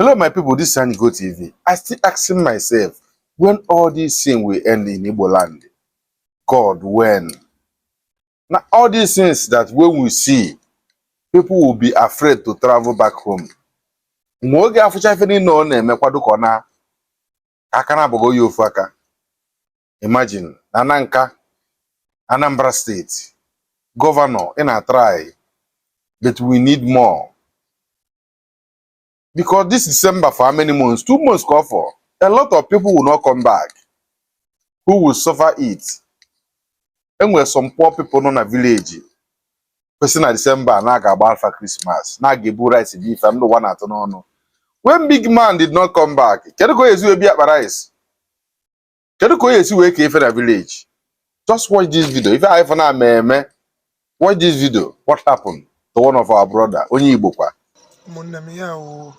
Hello, my people. This is Anigo TV. I still asking myself when all these things will end in Igbo land. God, when? Now, all these things that when we see, people will be afraid to travel back home. Mgbe ọ ga-afụcha ife niile ọ na-eme kwado ka ọ na aka na abụghị oyi ofu aka imagine na Nanka Anambra steeti gọvanọ ị na-atrai but we need more because this December for how many months two months ka ọ fọ a lot of people will not come back who will suffer it e nwere some poor people nọ na vileji kwesị na December a na a ga-agbalụ fa Christmas na a ga-ebu rice bi ife ndị ụwa na-atụ n'ọnụ when big man did not come back kedu ka ọ ya-esi wee bie akpa rice kedu ka ọ ya-esi wee kee ife na village just watch this video ife anyị fụ na ama eme watch this video what happened to one of our brother onye Igbo kwa ụmụnne m ya wụ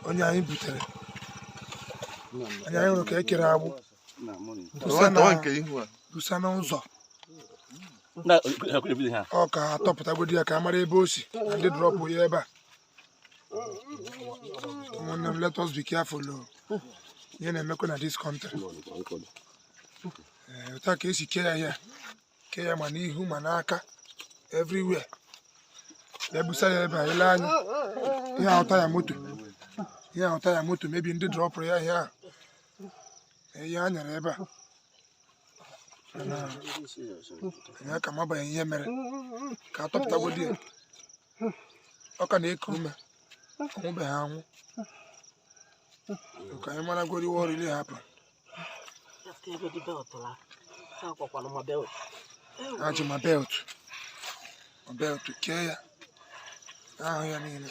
onye anyị butere anyị anyị hụrụ ka e kere agbụ busa na busa n'ụzọ ọ ka a tọpụtagodi ya ka a mara ebe o si na ndị drọpụ ya ebe a ụmụnne m let us be careful o. ihe na-emekwa na this country Ee, otu a ka e si kee ya ihe kee ya ma n'ihu ma n'aka everywhere e busa ya ebe a i lee anya ị ya-ahụ taya moto ị ya-ahụ taya moto maybe ndị drọpụrụ ya ihe ahụ Ee, ihe a nyere ebe a Mana, anyị aka amabeghị ihe mere ka a tọpụtagodi ya ọ ka na-eku ume ọ nwụbeghị anwụ ka anyị maragodi what really happened e ji ma belt ma belt kee ya ahụ ya niile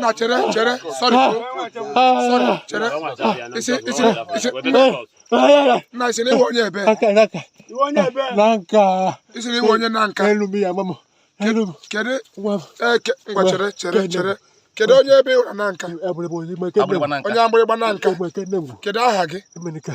na chere chere sorry sorry chere ị sị ị sị ị sị na ị sị na ị wụ onye ebe ị sị na ị wụ onye Nanka kedu kedu eke eh, ngwa chere chere chere kedu onye ebe ị wụ na Nanka onye Agbịrịgba Nanka kedu aha gị Emenike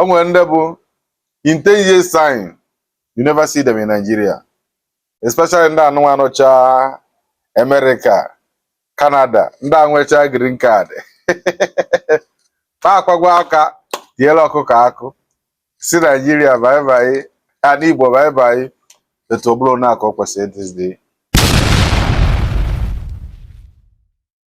o nwere ndị bụ in 10 years time you never see them in Nigeria especially ndị anụwa nọcha America Canada ndị a nwecha green card fa akwọgo aka tiela ọkụkọ akụ sị Nigeria bye-bye ana Igbo bye-bye etu ọ bụla onye aka o kwesịrị ịdịzi